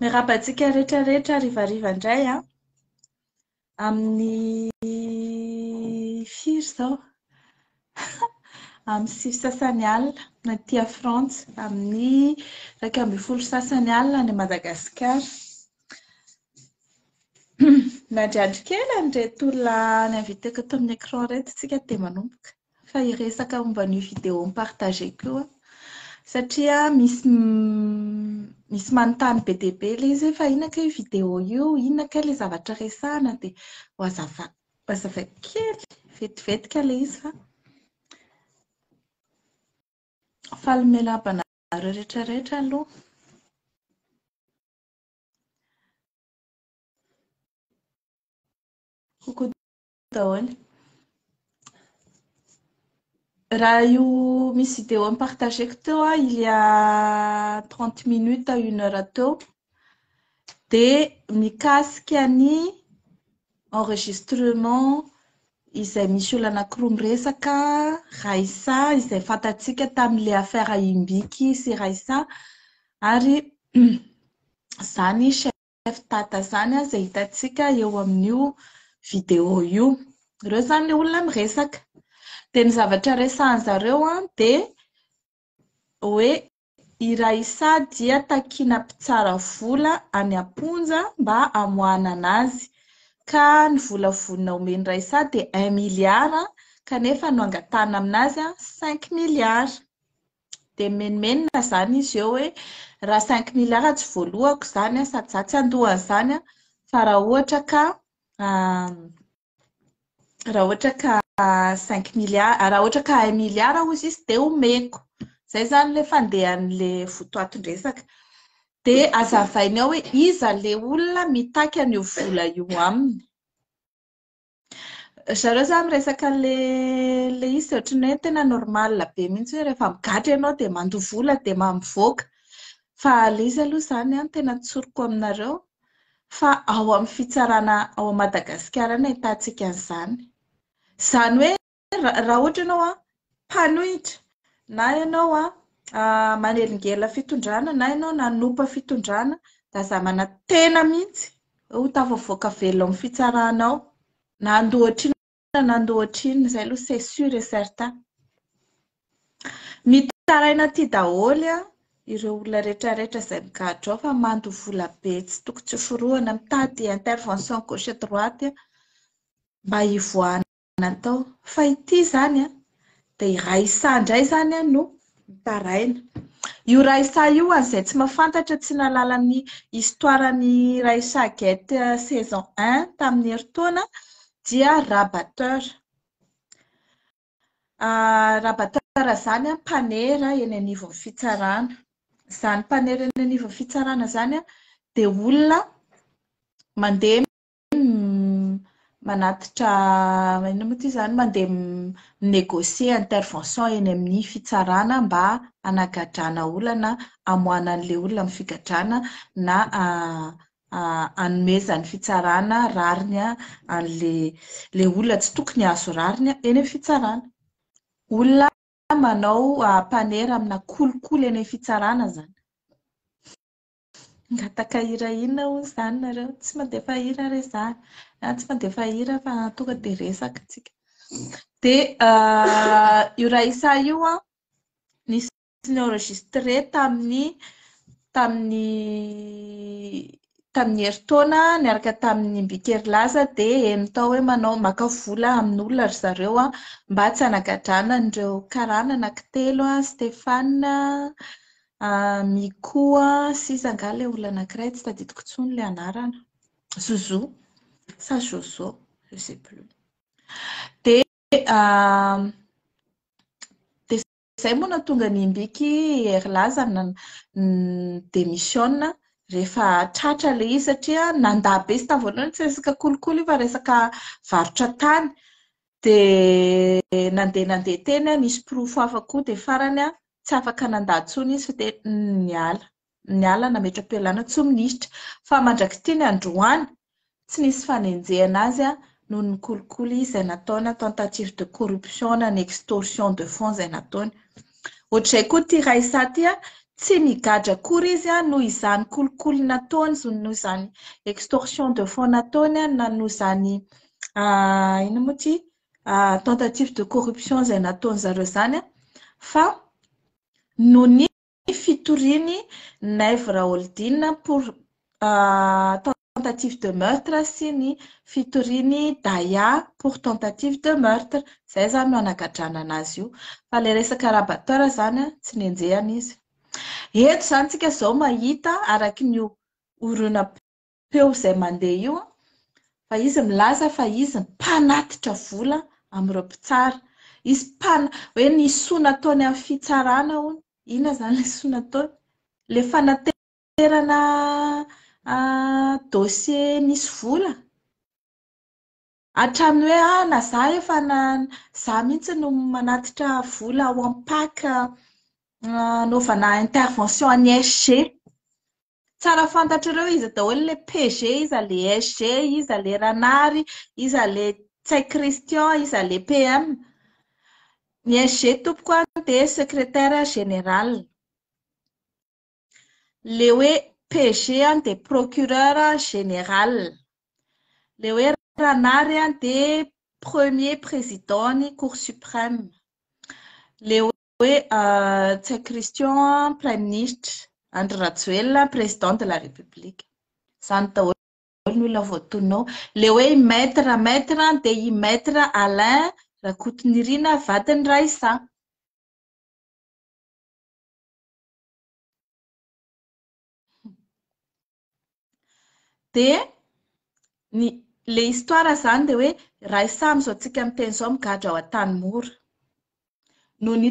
Miarahaba antsika rehetra rehetra rivariva indray a. Amin'ny firy izao? Amin'ny sivy sasany alina aty Frantsa, amin'ny iraika ambin'ny folo sasany alina any Madagasikara. Miandriandry kely an'ireto olona ni-inviter-ko tao amin'ny écran ireto isika dia manomboka. fa hiresaka momba an'io vidéo mi-partager-ko io aho satria misy misy manontany be dia be ilay izy hoe fa inona kay io vidéo io, inona kay ilay zavatra resahina dia hohazava- hohazavaiko kely vetivety kay ilay izy fa faly miala haba anareo rehetra rehetra aloha. Coucou daholo. Raha io misy vidéo am-partageko teo a, il y a 30 minutes à une heure teo, dia mikasika ny enregistrement izay misy olona anankiroa miresaka, Raissa, izay fantatsika tamin'ilay affaire Imbiky sy Raissa, ary izany chaîne. chef dada zany izay hitantsika eo amin'io video io. Ireo izany ilay olona miresaka. Dia ny zavatra resahan'ny zareo dia hoe i Raissa dia takina mpitsara vola any am-ponja mba hamoahana azy ka ny vola vonona homen'i Raissa dia un milliard kanefa no angatahana aminazy cinq milliards. Dia mimenomenona izany izy eo hoe raha cinq milliards tsy voalohako izany sady izaho tsy andohan'izany fa raha ohatra ka raha ohatra ka cinq milliards, raha ohatra ka un milliard hozy izy dia omeko. Izay izany ilay fandehan'ilay votoatin-dresaka. Dia azavainy ao hoe iza ilay olona mitaky an'io vola io aminy. Zareo zany miresaka le le izy dia ohatran'ny hoe tena normal be mihitsy hoe rehefa migadra ianao dia mandoa vola dia mivoaka. Fa le izy aloha izany no tena tsoriko aminareo fa ao amin'ny fitsarana ao Madagasikara no ahitantsika an'izany. Izany hoe raha ohatra ianao a mpanohitra na ianao a ah, manelingelina fitondrana na ianao nanompa fitondrana da aza manantena mihitsy ho tafavoaka velona amin'ny fitsarana ao na andoha ohatrina na andoha ohatrina izay aloha c'est sûr et certain mitaraina aty daholo a ireo olona rehetra rehetra izay migadra ao fa mando vola be tsy toko tsy forohana mitady intervention gauche droite mba hivoahana natao fa ity izany a dia iray isaha indray izany a no mitaraina io iray isaha io an'izay tsy mafantatra tsy nalala ny histoire ny iray isaha get saison 1 tamin'ny herintaona dia rabateur ah, rabateur izany a mpanera eny anivon'ny fitsarana izany mpanera eny anivon'ny fitsarana izany a dia olona mandeha manatitra inona moa ity izany mandeha mi-négocier intervention eny amin'ny fitsarana mba hanagadrana olana, hamoahana an'ilay olona amin'ny figadrana na hanomezan'ny fitsarana rariny an'ilay olona tsy tokony hahazo rariny eny amin'ny fitsarana. Olona manao mpanera amina kolikoly eny amin'ny fitsarana izany. Mangataka hira inona hono izany nareo? Tsy mandefa hira re za a, tsy mandefa hira fa tonga dia resaka tsika. Dia io Raissa io an, nisy ni-enregistre tamin'ny tamin'ny tamin'ny herintaona niaraka tamin'ny Mbikerilaza dia heno tao hoe manao maka vola amin'olona ry zareo an, mba tsy hanagadrana an'ireo karana anankitelo an, Stéphane, Mikoa sisa angaha ilay olona anankiray, tsy tadidiko intsony ilay anarana. Zozo sa Jozo, je sais plus. Dia izay moa nahatonga ny Mbiky Herlaza ni-demissiona rehefa tratra ilay izy satria nandà be. Tsy tamin'ny voalohany tsy resaka kolikoly io fa resaka varotra tany. Dia nandeha nandeha teny aho, nisy porofo hafa koa, dia farany aho tsy afaka nandà intsony izy fa dia niala. Niala nametra-pialàna tsy ho minisitra. Fa mandrak'ity ny androany, tsy nisy fanenjehana azy aho noho ny kolikoly izay nataony na tentative de corruption na ny extorsion de fonds izay nataony. Ohatr'izay koa ity Raissa ity, tsy nigadra akory izy noho izany kolikoly nataony, noho izany extorsion de fonds nataony na noho izany inona moa ity tentative de corruption izay nataony zareo izany fa noho ny fitoriany Naivo Raholdina pour tentative de meurtre sy ny fitoriany Daya pour tentative de meurtre izay izany no anagadranana azy io fa ilay resaka rabateur izany tsy nenjehana izy eto izany tsika izao mahita araky ny oronam peo izay mandeha io an, fa izy milaza fa izy mpanatitra vola amin'ireo mpitsara. Izy mpana, hoe ny soa nataony amin'ny fitsarana hono, inona izany ilay soa nataony? Ilay fanaterana dossier misy vola? Hatramin'ny hoe ah na izaho efa na izaho mihitsy no manatitra vola ao amin'ny pac hanaovana intervention an'i SG. Tsara fantatrareo iza daholo ilay PG, iza ilay SG, iza ilay Ranary, iza ilay Tsay Christian, iza ilay PM. Ny SG tompoko a dia secrétaire général. Ilay hoe PG dia procureur général. Ilay hoe Ranary dia premier président ny cour suprême. Ilay hoe Hoe Tsay Christian Praiminisitra, Andry Rajoelina Président de la République. Izany daholo ny olona voatonona ao. Ilay hoe i Maître, Maître dia i Maître Alain Rakotonirina vadin'i Raissa. Dia ny le histoire zany dia hoe ray samy izao tsika miteny izao migadra ao Antanimora. Noho ny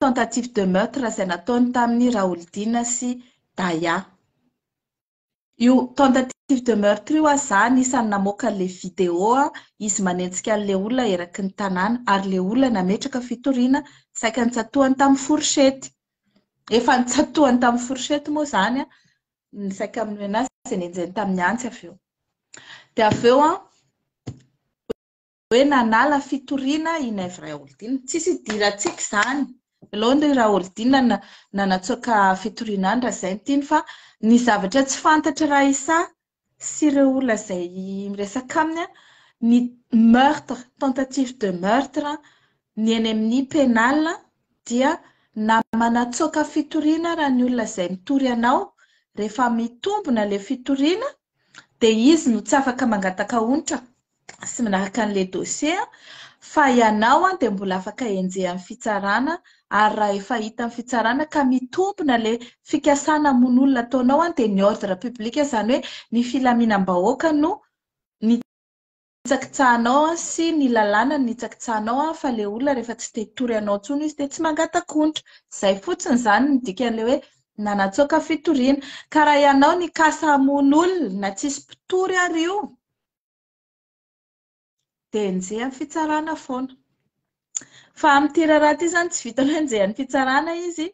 tentative de meurtre izay nataony tamin'i Raholdina sy Daya. Io tentative de meurtre io aza za anisan'ny namoaka an'ilay vidéo izy manenjika an'ilay olona eraky ny tanàna ary ilay olona nametraka fitoriana saika notsatohany tamin'ny fourchette. Efa notsatohany tamin'ny fourchette moa izany ny sac à menace dia nenjehiny tamin'ny antsy avy eo. Dia avy eo an, hoe nanala fitoriana i Naivo Raholdina. Tsisy idirantsika izany. Alone ry Raholdina nanatsoaka fitoriana any raha izay ny tiany fa ny zavatra tsy fantatry Raissa sy ireo olona izay miresaka aminy ny meurtre, tentative de meurtre, ny eny amin'ny pénal dia na manatsoaka fitoriana ara ny olona izay mitory anao rehefa mitombona ilay fitoriana dia izy no tsy afaka mangataka onitra sy minaraka an'ilay dossier fa ianao dia mbola afaka enjehan'ny fitsarana ary raha efa hita ny fitsarana ka mitombona ilay fikasana mono olona ataonao dia ny ordre public izany hoe ny filaminam-bahoaka no nitsakitsahanao an sy ny lalàna no nitsakitsahanao an fa le olona rehefa tsy te hitory anao tsony izy de tsy mangatakontra zay fotsiny zany ny dikan'le hoe nanatsoaka fitoriana ka raha ianao nikasa hamono olona na tsisy mpitory ary io de enjehan'ny fitsarana foana fa amin'ity raharaha ity zany tsy vitanao enjehan'ny fitsarana izy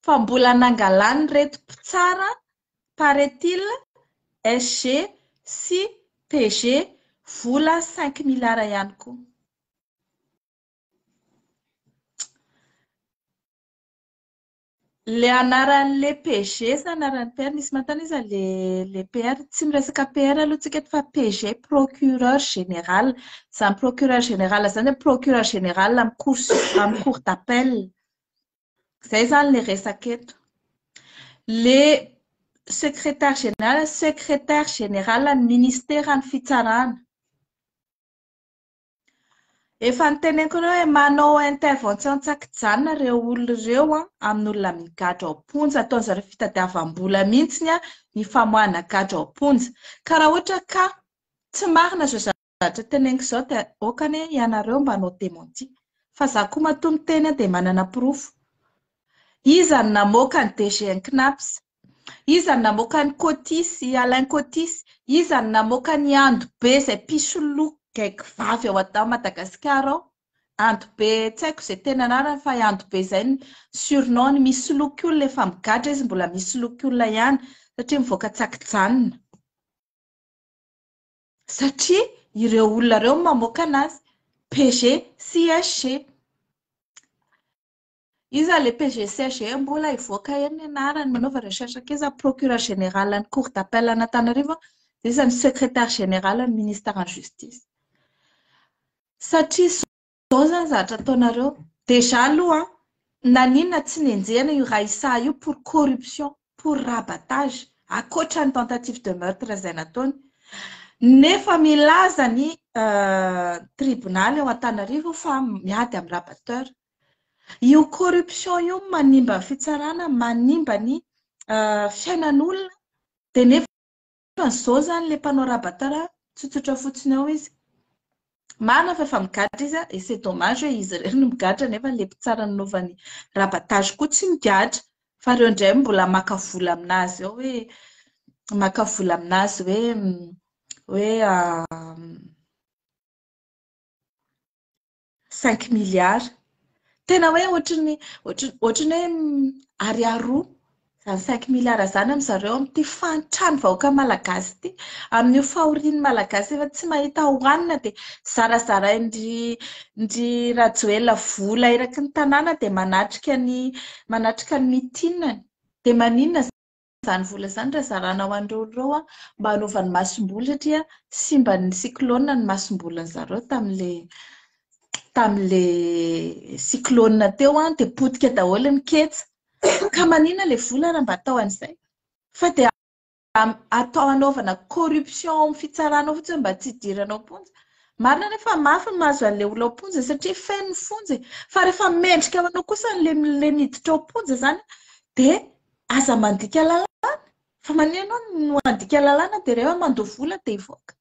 fa mbola nangalany reto mpitsara Paraît-il, SG sy PG vola cinq milliards ihany koa. Le anaran'le PG sa anaran'ny PR, misy manontany hoe iza le le PR, tsy miresaka PR aloha tsika eto fa PG, procureur général. Izany procureur général izany dia procureur général amin'ny cour su- amin'ny cour d'appel. Izay izany ilay resaka eto. Ilay sekretary generala, sekretary generalan'ny ministeran'ny fitsarana. Efa niteneniko anao hoe manao intervention tsakijanona ireo olona ireo an, amin'olona migadra ao am-ponja. Ataon'ny zareo fitadiavam-bola mihitsy ny famoahana gadra ao am-ponja. Ka raha ohatra ka tsy marina izao Zatra teneniko zao de ok anie ianareo mba hanao dementi fa za koa matoa miteny de manana porofo. Iza no namoaka ny DG ny Cnaps? Iza no namoaka an'i Koty sy Alain Koty sy iza no namoaka an'i Andobe zay mpisoloky gaigy vavy ao Ada Madagasikara ao? Andobe tsy aiko zay tena anarany fa i Andobe zay ny surnom ny misoloky olona efa migadra izy mbola misoloky olona ihany satria mivoaka tsakijanona. satria ireo olona ireo mamoaka anazy PG sy SG Iza le PG sy SG mbola hivoaka eny ny anarany manaova recherche akaiza ny procureur général ny cour d'appel an'Antananarivo dia iza ny secrétaire général ny ministre en justice satria Zao zany zatra ataonareo, déjà aloha naninona tsy nenjehina io ra isaha io pour corruption, pour rabatage, akoatra ny tentative de meurtre izay nataony, nefa milaza ny tribunal ao Antanarivo fa miady amin'ny rabateur, io corruption io manimba ny fitsarana, manimba ny fiainan'olona, dia nefa. Fa zao zany le mpanao rabatara tsotsotra fotsiny ao izy marina fa efa migadra izy et c'est dommage hoe izy irery no migadra nefa le mpitsara nanaovany rabatage koa tsy migadra fa reo ndray mbola maka vola aminazy ao hoe maka vola aminazy hoe hoe Cinq milliards. Tena hoe ohatry ny ohatry ny hoe ariary roa izany cinq milliards izany amin'ny zareo amin'ity fahantran'ny vahoaka malagasy ity. Amin'io fahorian'ny malagasy efa tsy mahita hohanina dia zarazarain-dry ndry Rajoelina vola eraky ny tanàna dia manatrika ny manatrika ny mitinany. Dia maninona izany? izany vola izany raha zarana ho an'ireo olona ireo mba hanaovany masomboly satria simban'ny cyclone ny masombolin'ny zareo tamin'ilay tamin'ilay cyclone teo an, dia potika daholo ny ketsa. Ka manina ilay vola raha mba atao an'izay. Fa dia atao hanaovana corruption amin'ny fitsarana ao fotsiny mba tsy hidirana ao am-ponja. Marina anefa fa mafy ny mahazo an'ilay olona ao am-ponja satria feno ny fonja e. Fa rehefa mendrika ho anao kosa an'ilay miditra ao am-ponja izany dia Aza mandika lalàna fa maneho ianao no handika lalàna dia rehefa mandoa vola dia hivoaka.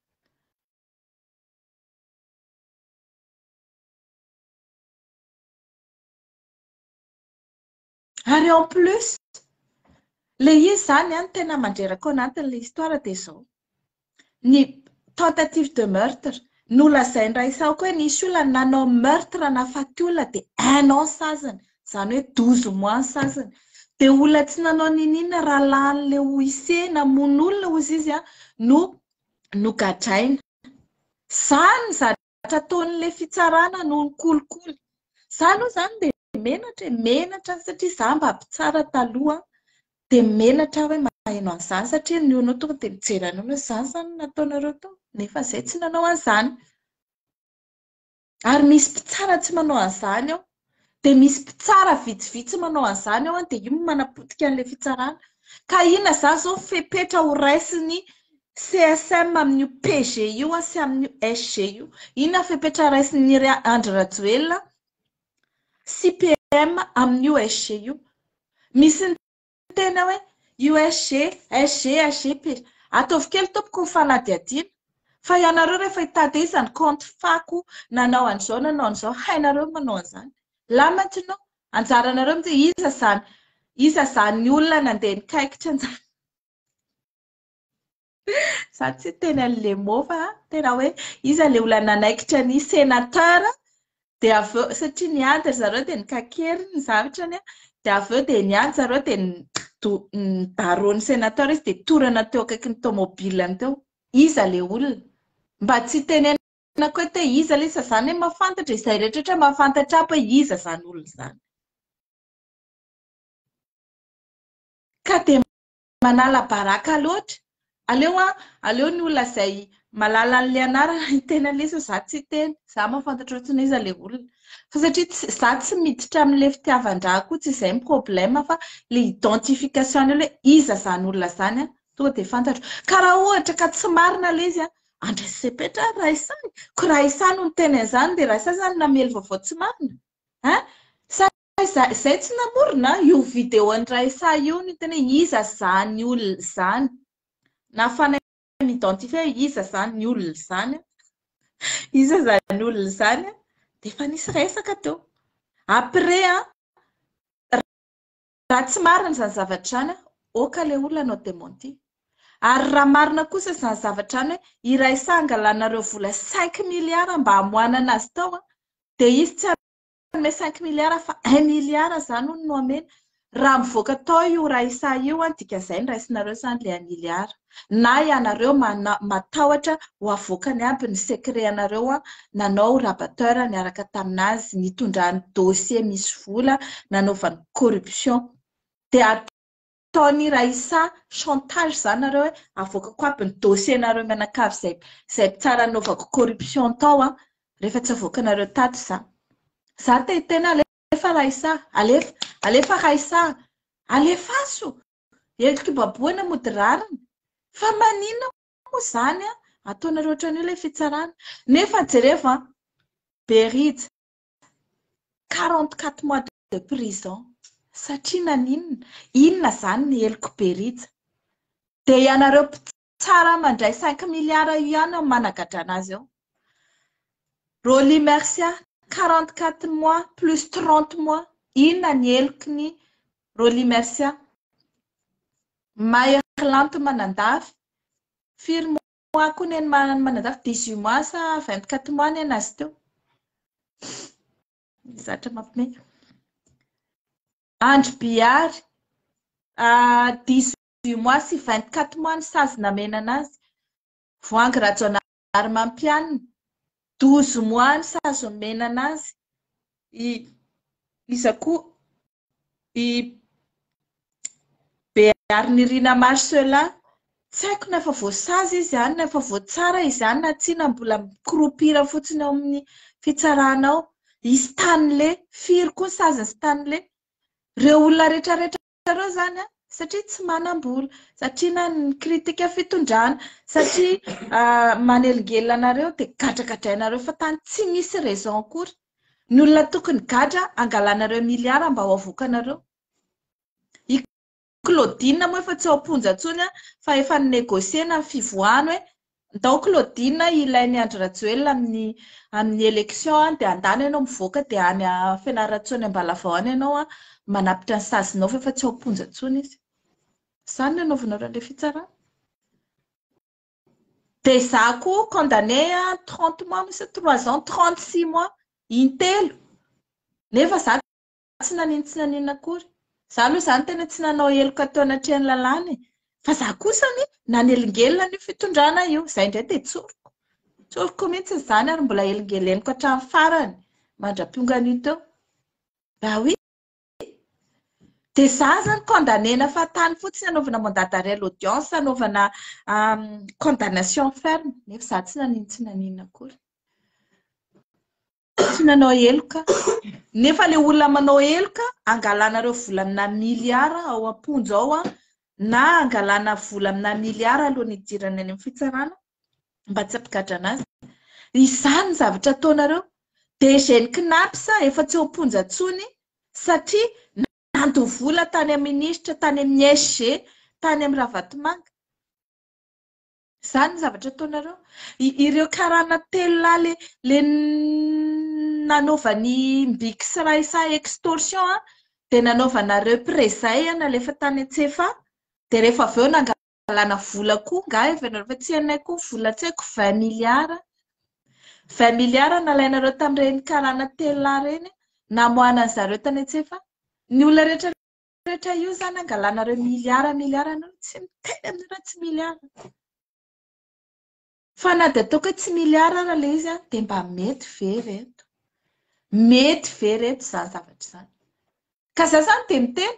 Ary en plus, ilay izy izany an, tena mandreraka ao anatin'ilay histoire dia izao. ny tentative de meurtre, nolazain-dRaisahoko hoe nisy olona nanao meurtre nahafaty olona dia un an saziny, izany hoe douze mois saziny. Dia olona tsy nanao niniana, rahalahin'ilay OIC namono olona hozy izy no nogadraina. Izany izany! zavatra ataon'ilay fitsarana no nikolikoly. Za aloha zany dia menatra e, menatra satria za mba mpitsara taloha dia menatra aho hoe maheno an'izany satria ny olona tonga dia mijery anao hoe izany izany no nataonareo tao nefa izay tsy nanao an'izany. Ary misy mpitsara tsy manao an'izany ao. Dia misy mpitsara vitsivitsy manao an'izany ao an, dia io no manapotika an'ilay fitsarana. Ka inona izany izao fepetra ho raisin'ny CSM amin'io PG io sy amin'io SG io? Inona fepetra raisin'i Andry Rajoelina sy PM amin'io SG io? Misy ny tena hoe USG, SG, SGP. Ataovy kely tompoko ny fanadihadiana. Fa ianareo rehefa hitady hoe iza ny kaonty fako nanao an'izao nanao an'izao, hainareo ny manao an'izany. Là maintenant, anjaranareo mijery iza izany, iza izany olona nandeha nikaikitra an'izany. Za tsy teny an'le mot fa tena hoe iza le olona nanaikitra ny senateur dia avy eo satria niady ry zareo dia nikakery ny zavitrany a dia avy eo dia niady zareo dia nidaron'ny senateur izy dia torana teo akaikin'ny tomobilany teo. Iza le olona? Mba tsy tenenako hoe te iza le izy zany hoe mahafantatra izay rehetra ohatra mahafantatra aby hoe iza zany olona zany. Ka dia Manala baraka loatra. Aleo an, aleo ny olona izay malala an'ilay anarana hiteny an'ilay izy fa za tsy hiteny. Za mahafantatra ohatrany hoe iza ilay olona. Fa satria tsy, za tsy miditra amin'ilay fitiavan-dra koa, tsy izay ny problème fa ilay identification eo hoe iza izany olona izany an, tonga dia fantatro. Ka raha ohatra ka tsy marina ilay izy an, andraso sepetra ary raha isahy. Koa raha isahy no niteny an'izany dia raha isahy izany no namely vaovao tsy marina? Ein? Sa. Aiza izay tsy namorona io video an'i Raissa io ny tena hoe iza zany olona izany? Nafanay mi-identifier hoe iza zany olona izany? Iza zany olona izany? Dia efa nisy resaka teo. Après an, raha tsy marina izany zavatra izany, ok ilay olona hanao dementie. Ary raha marina kosa izany zavatra izany hoe i Raissa angalanareo vola cinq milliards mba hamoanana azy tao dia izy tsy Hanome cinq milliards fa un milliard zany hono no hamena. Raha mivoaka tao io Raissa io an, dika zay ny raisinareo zany le un milliard. Na ianareo mana- matahotra ho avoakany aby ny secret anareo an, nanao rabatteur niaraka taminazy, nitondrany dossier misy vola nanaovany corruption. Dia Ataon'i Raissa chantage zany nareo hoe avoakako aby ny dossier nareo mianakavy zay zay mpitsara nanaovako corruption tao an, rehefa tsy avoakanareo tato za. Za te hiteny alefa Raissa, alefa, alefa Raissa a! Alefaso! Heloky baboana mody rariny. Fa maninona moa zany an, ataonareo ohatran'io ilay fitsarana. Nefa jerevo an, Berija, quarante quatre mois de prison satria naninona? inona izany ny heloky be rija? dia ianareo mpitsara mandray cinq milliards io ihany no managadrana azy eo Rolly Mercia quarante quatre mois plus trente mois inona ny heloky ny Rolly Mercia Mahery lanto manandafy firy mois mois koa ny any Manandafy, dix huit mois sa vingt quatre mois ny an azy teo. Zatra mampimey. Andry Bihary, dix huit mois sy vingt quatre mois ny sazy namena anazy. Voahangy Rajaonahary Mampianina, douze mois ny sazy nomena anazy. Iza koa? I Beary Nirina Marcela, tsy haiko na efa voasazy izy izany, na efa voatsara izany na tsia, na mbola mi-croupir fotsiny ao amin'ny fitsarana ao. I Stanley, firy koa ny sazin'i Stanley? Ireo olona rehetrarehetra ireo izany an, satria tsy manam-bola, satria na nikritika fitondrana, satria manelingelina anareo dia gadragadrainareo fa tany tsy misy raison akory. Ny olona tokony gadra angalanareo milliard mba ho avokanareo. I Claudine moa efa tsy ao am-ponja intsony an, fa efa ni-negocier-na ny fivoahany hoe ndao Claudine hilain'i Andry Rajoelina amin'ny amin'ny élection an, dia andany ianao mivoaka dia any Fianarantsoa any Ambalavao any ianao an, manapitra ny sazinao fa efa tsy ao am-ponja intsony izy. Izany no anaovanareo an'ilay fitsarana. Dia za koa condamné à 30 mois misy 3 ans 36 mois intelo nefa za tsy nanino tsy nanino akory za aloha zany tena tsy nanao heloka teo anatrehan'ny lalàna e fa za kosa anie nanelingelina an'io fitondrana io zay indray dia tsoriko tsoriko mihitsy izany ary mbola elingeleniko hatramin'ny farany mandra-piongan'io teo raha hoe Dia izaho izany condamner-na fahatany fotsiny hanaovana mandat d'arrêt à l'audience, hanaovana condamnation ferme. Nefa izaho tsy nanino tsy nanino akory. Tsy nanao heloka. Nefa ilay olona manao heloka, hangalana ireo vola amina miliara ao am-ponja ao, na hangalana vola amina miliara alohan'ny hidirana any amin'ny fitsarana, mba tsy hampigadrana azy. Izany ny zavatra ataonareo. DG-n'ny Cnaps efa tsy ao am-ponja intsony satria nandoa vola tany amin'ny minisitra, tany amin'ny SG, tany amin'ny Ravatomanga. Izany ny zavatra ataonareo. Ireo karana telo lahy le le nanaovan'ny Mbix Raissa extorsion dia nanaovanareo prezay nalefa tany an-tsefa dia rehefa avy eo nanga hangalana vola koa nga efa nareo fa tsy anay koa vola tsy haiko 20 milliards 20 milliards nalainareo tamin'ireny karana telo lahy ireny namoahana ny zareo tany an-tsefa ny olona rehetra rehetra io zany hangalanareo milliards milliards anareo tsy miteny aminareo tsy milliards Fa na dia ataoko hoe tsy milliard ara ilay izy an, dia mba mety ve ireto? Mety ve ireto izany zavatra izany? Ka za izany dia miteny,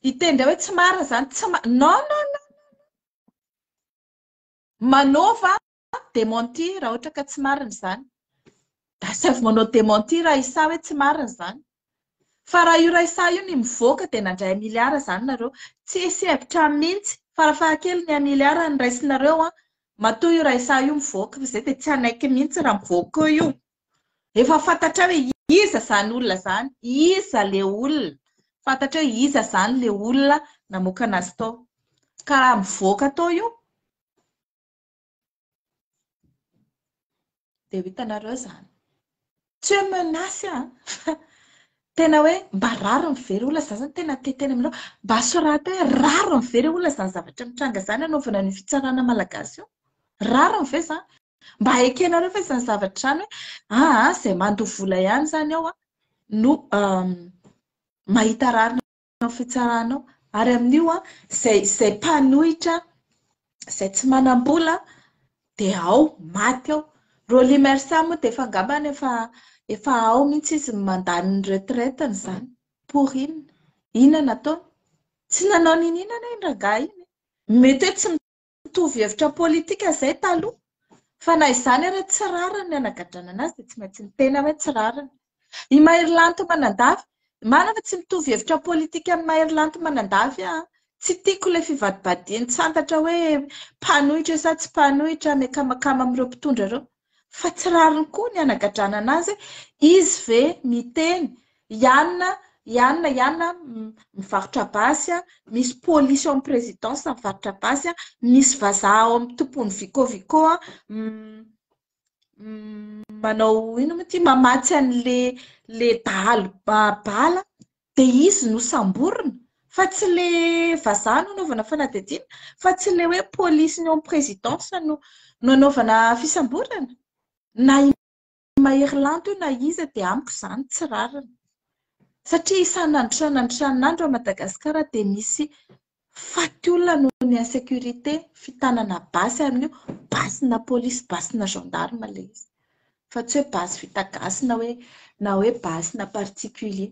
hiteny indray hoe tsy marina izany, tsy ma- non non non, manova démenti raha ohatra ka tsy marina izany. Asaivo manao dementir Raissa hoe tsy marina izany. Fa raha io Raissa io ny mivoaka dia nandray un milliard izany nareo. Tsisy hevitra aminy mihitsy. Farafahakeliny ny un milliard no raisinareo an. Matoa io Raissa io mivoaka fa zay dia tsy hanaiky mihitsy raha mivoaka io. Efa fantatrao hoe iza izany olona izany, iza le olona. Fantatrao hoe iza izany le olona namoaka anazy tao. Ka raha mivoaka tao io. Dia ho hitanareo izany. Tsy hoe menace an, fa tena hoe mba rariny very olona izany zany, tena te teny aminao, mba soraty hoe rariny very olona izany zavatra mitranga izany anaovana an'io fitsarana malagasy io? Rariny ve izany? Mba ekenareo ve izany zavatra izany hoe aa izay mandoa vola ihany izany ao no mahita rariny. Ny fitsaranao ary amin'io izay izay mpanohitra izay tsy manam-bola dia ao maty ao. Rolly Mersa moa dia efa angambany efa efa ao mihitsy izy ny mandat ny retraite-ny izany. Pour inona? Inona nataony? Tsy nanao n'inona anie iny rangahy iny. Mety hoe tsy Mitovy hevitra politika izay taloha, fa na izany ary tsy rariny ny anagadranana azy dia tsy maintsy miteny aho hoe tsy rariny. I Maherilanto Manandafy, marina fa tsy mitovy hevitra politika amin'i Maherilanto Manandafy aho, tsy tiako ilay fivadibadian-tsantatra hoe mpanohitra sa tsy mpanohitra, miakamakama amin'ireo mpitondra ireo. fa tsy rariny koa ny hanagadrana anazy hoe izy ve miteny ianona ianona ianona mivarotra basy a misy polisy ao amin'ny présidence mivarotra basy a misy vazaha ao amin'ny tompon'ny vico vico a manao ino moa ity mamatsy an'le le dahalo bala De izy no samborina fa tsy le vazaha no anaovana fanadihadiana fa tsy le hoe police ny ao amin'ny présidence no no anaovana fisamborana na i Maherilanto io na iza dia amiko izany tsy rariny satria isan'andro isan'andro isan'andro à Madagascar dia misy Faty olona noho ny insécurité, fitanana basy amin'io, basy na police, basy na gendarme ilay izy. Fa tsy hoe basy vita gasy na hoe na hoe basy na particulier.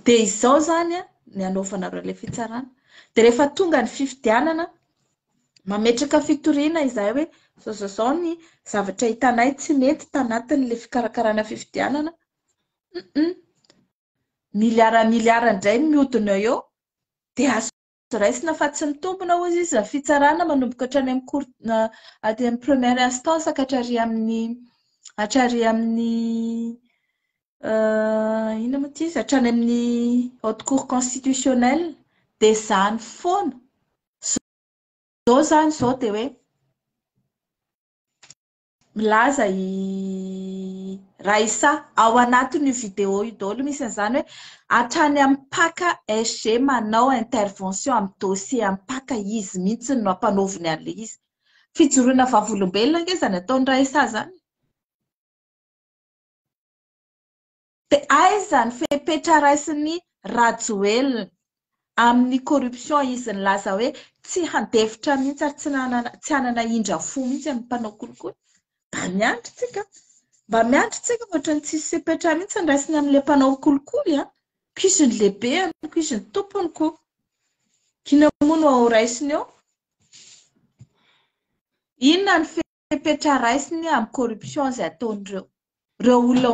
Dia izao izany ny hanaovanareo ilay fitsarana. Dia rehefa tonga ny fifidianana, mametraka fitoriana izahay hoe izao izao izao ny zavatra hitanay tsy mety tanatin'ilay fikarakarana fifidianana. Miliara miliara indray ny mihodina eo dia azo raisina fa tsy mitombina hozy izy ny fitsarana manomboka hatrany amin'ny cour aty amin'ny première instance ka hatrary amin'ny hatrary amin'ny inona moa ity izy hatrany amin'ny haute cour constitutionnelle dia izany foana izao izany izao dia hoe milaza i Raissa ao anatin'io vidéo io daholo misy an'izany hoe hatrany amin'ny mpaka SG manao intervention amin'ny dossier amin'ny mpaka izy mihitsy no ampanaoviny an'ilay izy. Fijoroana vavolombelona ange izany ataon'i Raissa izany. De aiza ny fepetra raisin'i Rajoelina amin'ny corruption izy nilaza hoe tsy handefitra mihitsy ary tsy nanana tsy hanana indra fo mihitsy amin'ny mpanao kolikoly? Mba miandry tsika an! Mba miandry tsika fa ohatran'ny tsisy fepetra mihitsy ny raisiny amin'ilay mpanao kolikoly an! Ko izy ny lehibeny, ko izy ny tompony ko! Kina moa no ao raisiny eo? Inona ny fepetra raisiny amin'ny corruption izay ataon'ireo ireo olona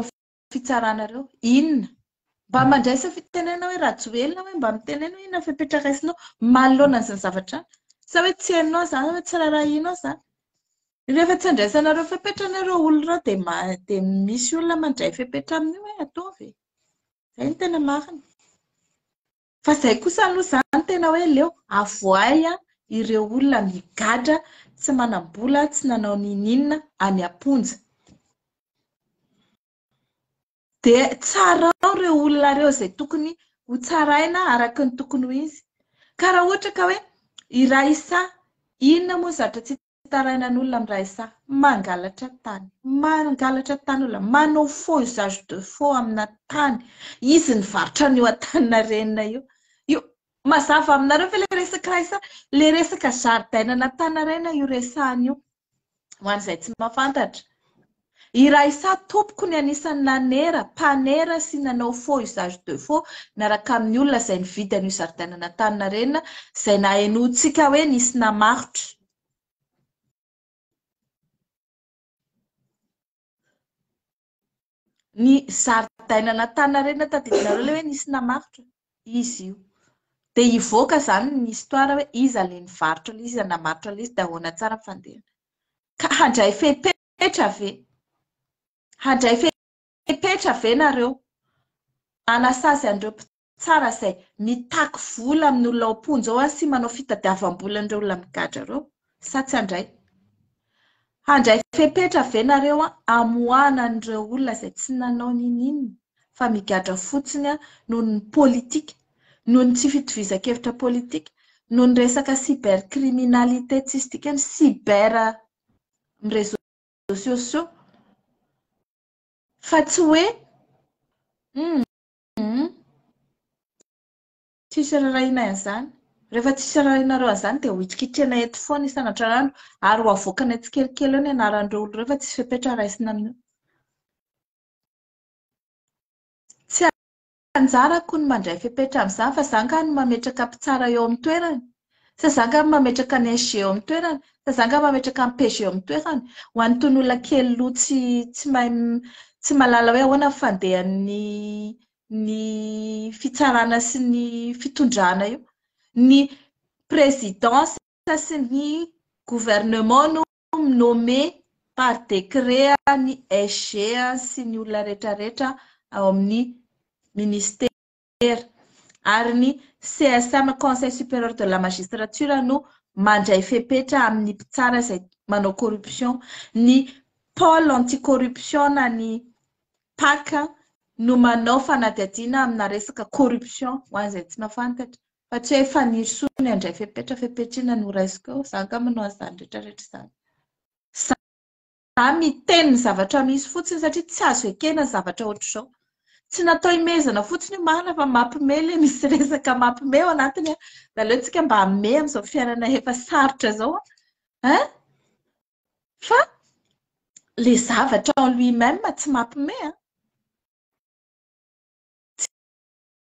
fitsaranareo inona mba mandraisa fitenena hoe rajoelina hoe mba mitenena hoe inona fepetra raisinao malona an'izany zavatra any sa hoe tsy hainao zany hoe tsy rarahinao zany rehefa tsy andraisanareo fepetra ny ireo olona ireo dia dia misy olona mandray fepetra amin'io hoe ataovy e izay ny tena marina Fa izay kosa aloha izany tena hoe leo avoahy ireo olona migadra tsy manam-bola, tsy nanao n'inon'inona any am-ponja. Dia tsarao ireo olona ireo izay tokony ho tsaraina araka ny tokony ho izy. Ka raha ohatra ka hoe i Raissa, inona moa ny zavatra tsy Tsy tarainan'olona miray saha. Mangalatra tany. Mangalatra tany olona. Manao faux usage de faux amina tany. Izy nivarotra an'io Antaninarenina io. Io, mazava aminareo ve ilay resaka ray saha? Ilay resaka zaridainan'Antaninarenina io resahana io, ho an'izay tsy mahafantatra. I Raissa tompoko ny anisan'ny nanera, mpanera sy nanao faux usage de faux miaraka amin'ny olona izay nividy an'io zaridaina an'Antaninarenina izay nahenointsika hoe nisy namarotra. Ny zaridaina an'Antaninarenina tadidinareo ilay hoe nisy namarotra? Izy io. Dia hivoaka izany ny histoire hoe iza ilay nivarotra ilay izy, iza namarotra ilay izy dia ahoana tsara ny fandehany. Ka handray fepetra. Fepetra ve? Handray fepetra ve nareo? Anasazy an'ireo mpitsara izay mitaky vola amin'ny olona ao am-ponja ao sy manao fitadiavam-bola an'ireo olona migadra ireo sa tsy handray? Handray fepetra ve nareo hamoahana an'ireo olona izay tsy nanao n'inon'inona fa migadra fotsiny noho ny politika, noho ny tsy fitovizan-kevitra politika, noho ny resaka cybercriminalité tsisy dikany, cyber amin'ny réseaux sociaux fa tsy hoe hum tsisy ararahinay an'izany, rehefa tsisy ararahinareo an'izany dia hohitrikitrianay eto foana isan'antrarandro ary ho avoakanay tsikelikely eo ny anaran'ireo olona ireo fa tsisy fepetra raisina amin'io. Anjarako ny mandray fepetra amin'izany fa za angaha no mametraka mpitsara eo amin'ny toerany? Sa za angaha mametraka ny SG eo amin'ny toerany? Sa za angaha mametraka ny PG eo amin'ny toerany? Ho an'itony olona kely loha tsy tsy mahay tsy mahalala hoe ahoana ny fandehan'ny ny fitsarana sy ny fitondrana io, ny présidence sy ny gouvernement no Comme nommé par décret ny SG sy ny olona rehetrarehetra ao amin'ny Ministera, ary ny CSM, Conseil Supérieur de la Magistrature, no mandray fepetra amin'ny mpitsara izay manao corruption. Ny Pôle anti-corruption na ny pac no manao fanadihadiana amina resaka corruption, ho an'izay tsy mahafantatra. Fa tsy hay faniry soa ny handray fepetra fepetr'inona no raisiko eo, za angamba no hahazo izany rehetra rehetra izany. Za miteny ny zavatra misy fotsiny satria tsy azo ekena ny zavatra ohatr'izao. Tsy natao himehezana fotsiny io marina fa mampime ilay misy resaka mampime ao anatiny an! Dia aleontsika mba hamehy amin'izao fiainana efa sarotra izao an! Hein! Fa ilay zavatra en lui-même tsy mampime an!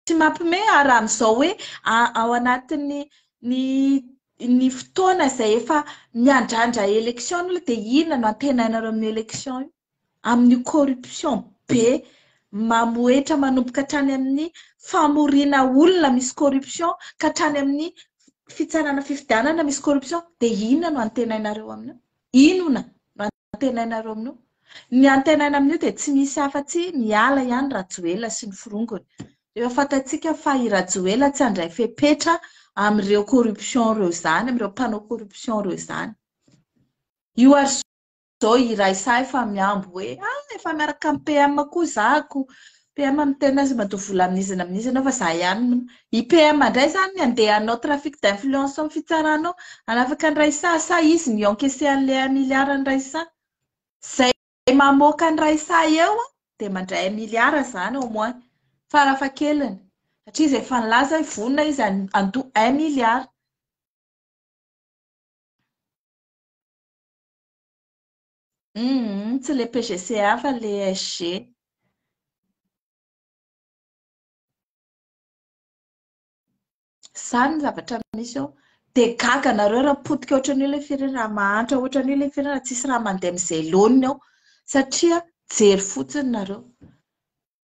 Tsy mampime ary amin'izao hoe ao anatin'ny ny fotoana izay efa miandrandra élection ny dia inona no antenainareo amin'io élection io? Amin'io corruption be mamohehitra manomboka hatrany amin'ny famoriana olona misy corruption ka hatrany amin'ny fitsarana fifidianana misy corruption dia inona no antenainareo amin'io? Inona no antenainareo amin'io. Ny antenaina amin'io dia tsy misy afa-tsy miala ihany Rajoelina sy ny forongony. Efa fantatsika fa i Rajoelina tsy handray fepetra amin'ireo corruption ireo izany, amin'ireo mpanao corruption ireo izany. Io ary izao iray sahy fa miambo hoe ah efa miaraka amin'ny PM koa zako PM miteny azy matoa vola amin'iza na amin'iza ianao fa za ihany no. I PM indray izany andeha hanao trafic d'influence amin'ny fitsarana ao, hanafaka an'i Raissa sa izy no hi-encaisser an'ilay un milliard an'i Raissa? Izay mamoaka an'i Raissa eo dia mandray un milliard izany au moins, farafahakeliny, satria izy efa nilaza hoe vonona izy handoa un milliard. Humm tsy le PGCA fa le SG. Zany ny zavatra misy eo. Dia gaga nareo raha potika ohatran'io ilay firenena, raha mahantra ohatran'io ilay firenena, tsisy raha mandeha amin'izay laoniny ao satria jery fotsiny nareo.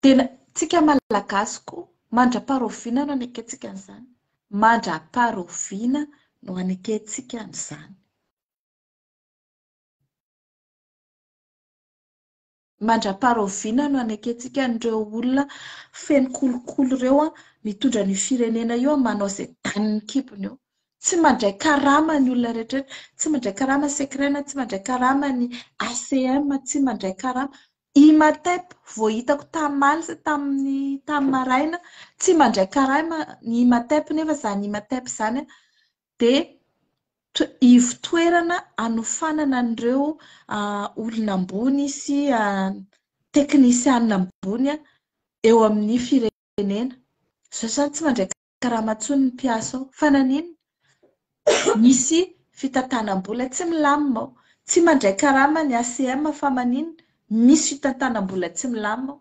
Dia tsika malagasy koa mandra-paroviana no anekentsika an'izany. Mandra-paroviana no anekentsika an'izany. Mandra-paharaoviana no hanekentsika an'ireo olona feno kolikoly ireo mitondra an'io firenena io manao izay danin'ny kibony eo? Tsy mandray karama ny olona rehetrarehetra, tsy mandray karama Secrena, tsy mandray karama ny ACM, tsy mandray karama Imatep, vao hitako tamaly sy tamin'ny tamin'ny maraina, tsy mandray karama ny Imatep nefa izany Imatep izany dia ivo-toerana anofanana an'ireo olona ambony sy teknisianina ambony eo amin'ny firenena. Izao izany tsy mandray karama intsony ny mpiasa ao. Fa naninona? Misy fitantanam-bola tsy milamina ao. Tsy mandray karama ny ACM fa maninona? Misy fitantanam-bola tsy milamina ao.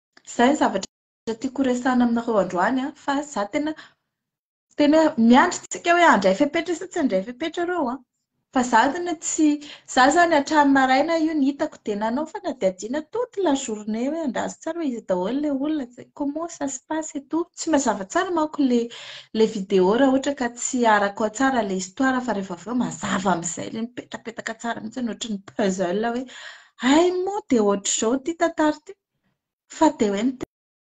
Izay ny zavatra tiako horesahana aminareo androany an, fa za tena tena hoe miandry tsika hoe handray fepetra sa tsy handray fepetra reo an, fa za tena tsy za izany hatramin'ny maraina io ny hitako dia nanao fanadihadiana toute la journée hoe andraso tsara hoe iza daholo ilay olona, comment ça se passe et tout, tsy mazava tsara manko ilay ilay vidéo raha ohatra ka tsy arako ao tsara ilay histoire fa rehefa avy eo mazava amin'izay ilay mipetapetaka tsara mihintsy ohatran'ny puzzle hoe hay moa dia ohatr'izao ity tantara ity. Fa dia hoe ny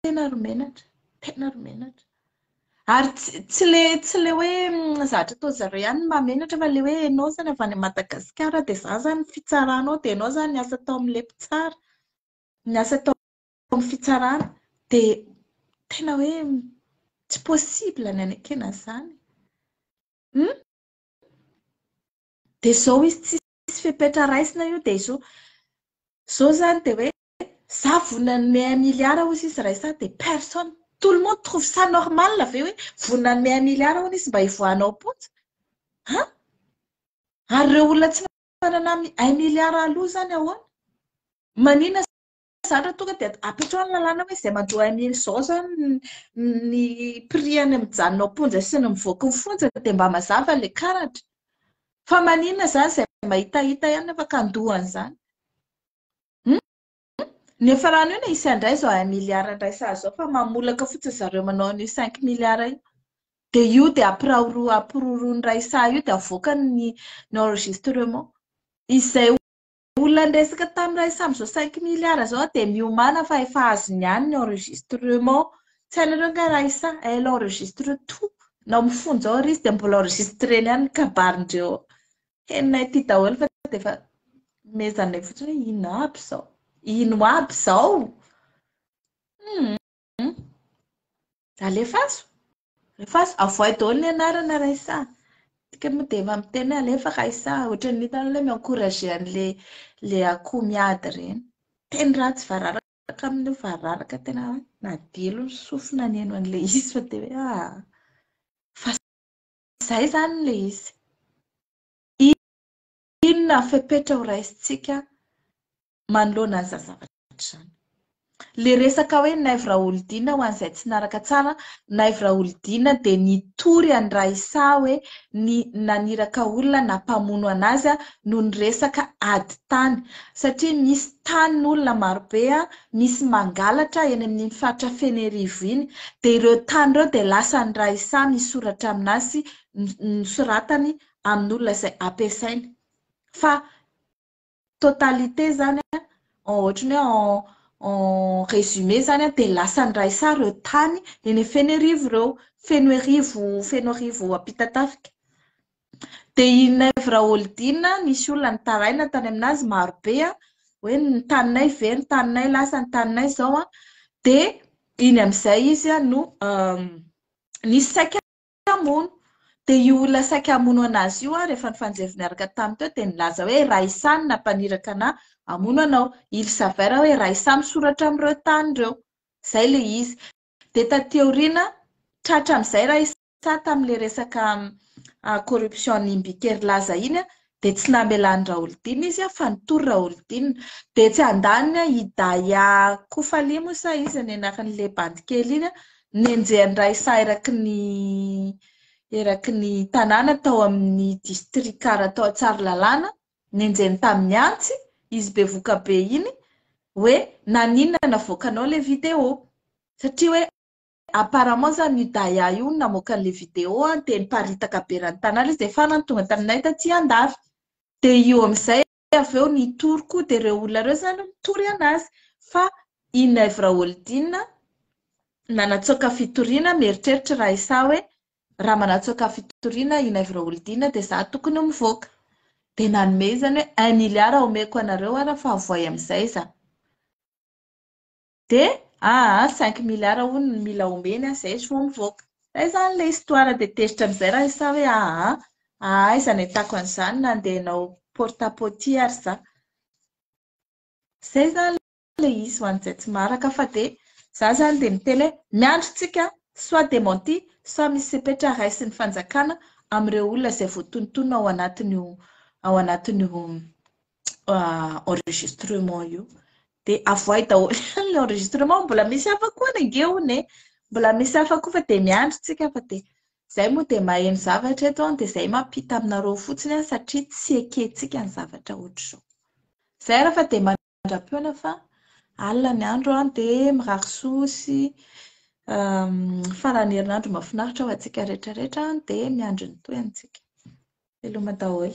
tena ry menatra, tena ry menatra. Ary tsy ilay tsy ilay hoe zavatra ataon-dry zareo ihany ny mahamenatra fa ilay hoe ianao izany avy any Madagasikara dia izany izany ny fitsaranao dia ianao izany niasa tao amin'ilay mpitsara, niasa tao amin'ny fitsarana dia tena hoe tsy possible ny hanekena an'izany e! Dia izao izy tsisy fepetra raisina io dia izao izao izany dia hoe za vonona hanome un milliard hozy izy ray sa dia personne tout le monde trouve ça normal ve hoe vonona hanome un milliard hono izy mba hivoahana ao am-ponja an ary ireo olona tsy manana un milliard aloha izany ahoana manina izany raha tonga dia apetraho ny lalàna hoe izay mandroa un mil izao izany ny prix any mijanona ao am-ponja sy ny mivoaka ny fonja dia mba mazava ilay karatra fa manina izany izay mahitahita ihany nefa ka handoa an'izany Ny efa rano io na hisy handray izao un milliard handray sazy izao fa mamolaka fotsiny zareo manao an'io cinq milliards io. Dia io dia ampirahoro- ampiroroan'ny iray saha io dia avoakany ny ny enregistrement. Izay olona niresaka tamin'ny iray saha amin'izao cinq milliards izao dia miomàna fa efa azony ihany ny enregistrement. Tsy hainareo angaha iray saha? Elle enregistre tout. Nao mifonja ao ary izy dia mbola enregistreny ihany ny kabarindreo ao. Henonay aty daholo fa dia efa mezanay fotsiny hoe ino aby izao. Ino aby izao? Alefaso. Alefaso. Avoay daholo ny anarana Raissa. Tika moa dia efa miteny hoe alefa Raissa. Ohatran'ny hitanao ilay mi-encourager an'ilay ilay akoho miady ireny. Teny ratsy vararaka amin'io vararaka tena nadilo ny sofina nihaino an'ilay izy fa dia hoe ah fa Izay izany ilay izy. Inona ny fepetra ho raisintsika manoloana an'izany zavatra izany? Ilay resaka hoe Naivo Raholidina ho an'izay tsy naraka tsara, Naivo Raholidina dia nitory an'i Raissa hoe ny naniraka olona na mpamono an'azy noho ny resaka ady tany satria misy tany olona marobe misy mangalatra eny amin'iny faritra Fenerivo iny dia ireo tany ireo dia lasa ny Raisa misoratra amin'asy nosoratany amin'olona izay ampiasainy fa totalité izany an ohatran'ny hoe en en résumé izany dia lasa ny Raisa ireo tany eny Fenerivo ireo Fenoerivo Fenoarivo Ampitatafika Dia i Naivo Raholdina, nisy olona nitaraina tany aminazy marobe hoe ny taninay very, ny taninay lasa, ny taninay izao. Dia iny amin'izay izy no nisy saika hamono. Dia io olona saika hamono anazy io, rehefa nifanjevo niaraka taminy teo, dia nilaza hoe Ra Isà no nampaniraka anà hamono anao. Il s'avère hoe Ra Isà misoratra amin'ireo tany ireo. Izay ilay izy. Dia taty aoriana, tratra amin'izay Ra Isà. Tsa tamin'ilay resaka corruption-n'i Mbiker Laza iny dia tsy namelan'i Raholdina izy fa nitory Raholdina. Dia etsy andaniny i Daya Kofali moa sa iza ny anaran'ilay bandy kely iny nenjehan'ny Raisa eraky ny eraky ny tanàna tao amin'ny distrikara tao Tsaralalàna, nenjehiny tamin'ny antsy izy bevoka be iny hoe naninona navoakanao ilay vidéo satria hoe Apparemment zany io Daya io no namoaka an'le video dia niparitaka be raha ny tanala izy dia farany tonga taminay taty Andavy. Dia io amin'izay avy eo nitory koa dia ireo olona ireo zany mitory anazy fa i Nèvre Holdina nanatsoaka fitoriana mieritreritra Raissa hoe raha manatsoaka fitoriana i Nèvre Holdina dia za tokony ho mivoaka. Dia nanome izy zany hoe un milliard omeko anareo ary fa avoay amin'izay za. de aa cinq milliards hono no mila omeny an zay vao mivoaka zay zany ilay histoire de tezitra amizay raha izaho hoe aa aa aiza no ahitako an'izany nandeha nanao porte à potie ary za zay zany ilay izy ho an'izay tsy maharaka fa de za zany de miteny hoe miandry tsika soit dementi soit misy fepetra raisin'ny fanjakana amin'ireo olona izay voatonontonona ao anatin'io ao anatin'io ah, enregistrement io dia avoay daholo ny enregistrement mbola misy hafa koa ny ange hono e mbola misy hafa koa fa dia miandry tsika fa dia izay moa dia maheno zavatra eto an dia izay mampita aminareo fotsiny an satria tsy ekentsika ny zavatra ohatr'izao izay raha fa dia mandra-peona fa alina ny andro an dia mirary soa sy ehm, faran'ny herinandro mahafinaritra ho antsika rehetrarehetra dia miandry ny toy antsika Hello Madaoy.